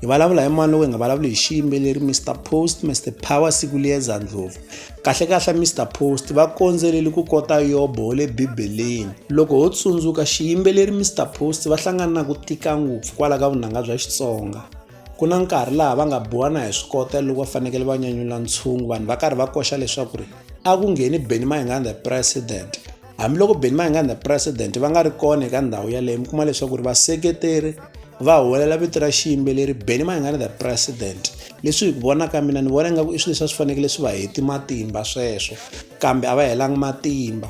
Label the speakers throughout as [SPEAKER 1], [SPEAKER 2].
[SPEAKER 1] hi vulavula hi mani loko hi nga vulavuli hi xiyimbeleri mr post mr power siku liyeza ndlovu kahlekahle mr post va kondzeleli ku kota yobo wa le bibeleni loko ho tsundzuka xiyimbeleri mr post va hlangana na ku tika ngopfu kwala ka vunanga bya xitsonga ku na nkarhi laha va nga biwa na hi swikota loko va fanekele va nyanyula ntshungu vanhu va karhi va koxa leswaku ri a ku ngheni benny mayengani the president hambiloko Benny Mayengani the president va nga ri kona eka ndhawu yaleyo mi kuma leswaku ri vaseketeri va huwelela vito ra xiyimbeleri Benny Mayengani the president leswi hi ku vona ka mina ni vona ingaku i swilo leswi a swi fanekele swi va heti matimba sweswo kambe a va helanga matimba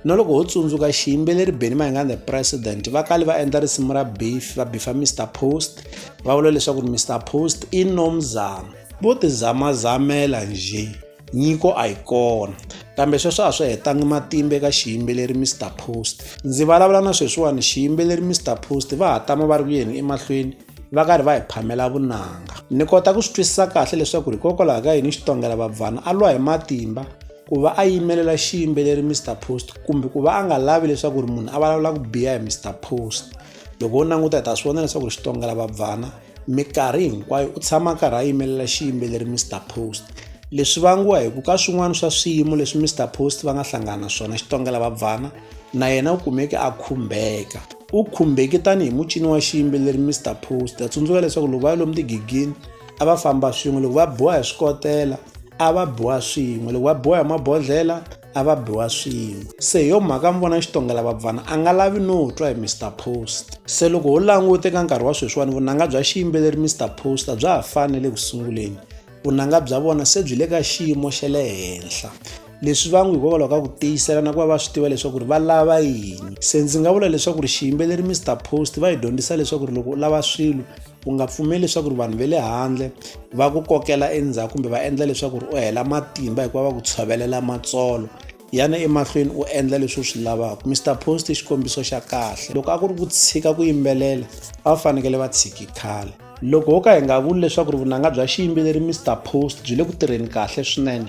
[SPEAKER 1] na loko ho tsundzuka xiyimbeleri Benny Mayengani the president va kale va endla risimu ra beef va bifa Mr Post va vula leswaku Mr Post i nomzamo vo tizamazamela njhe Nyiko a yi kona, kambe sweswo a swi hetangi matimba eka xiyimbeleri Mister Post. Ndzi vulavula na sweswiwani xiyimbeleri Mister Post va ha tama va ri ku yeni emahlweni va karhi va hi phamela vunanga. Ni kota ku swi twisisa kahle leswaku hikokwalaho ka yini Xitongela Babvana a lwa hi matimba ku va a yimelela xiyimbeleri Mister Post kumbe ku va a nga lavi leswaku ri munhu a vulavula ku biha hi Mister Post. Loko wo languta hi ta swi vona leswaku Xitongela Babvana mikarhi hinkwayo u tshama karhi a yimelela xiyimbeleri mr post leswi vangiwa hi ku ka swin'wana swa swiyimo leswi mr post va nga hlangana na swona xitongela vabvana na yena u kumeke a khumbeka u khumbeki tanihi mucini wa xiyimbeleri mr post a tsundzuka leswaku loko va ya lomu tigigini a va famba swin'we loko va biwa hi swikotela a va biwa swin'we loko va biwa hi mabodhlela a va biwa swin'we se hi yo mhaka mi vona xitongela vabvana a nga lavi no twa hi mr post se loko ho langute ka nkarhi wa sweswiwani vunanga bya xiyimbeleri mr post a bya ha fani le ku sunguleni vunanga bya vona se byi le ka xiyimo xa le henhla leswi va n'wi hikokwalaho ka ku tiyisela na ku va va swi tiva leswaku ri va lava yini se ndzi nga vula leswaku ri xiyimbeleri mr post va hi dyondzisa leswaku ri loko u lava swilo u nga pfumeli leswaku ri vanhu va le handle va ku kokela endzhaku kumbe va endla leswaku ri u hela matimba hikuva va ku tshovelela matsolo yana emahlweni u endla leswi u swi lavaka mr post i xikombiso xa kahle loko a ku ri ku tshika ku yimbelela a va fanekele va tshiki khale loko ho ka hi nga vuli leswaku ri vunanga bya xiyimbeleri mr post byi le ku tirheni kahle swinene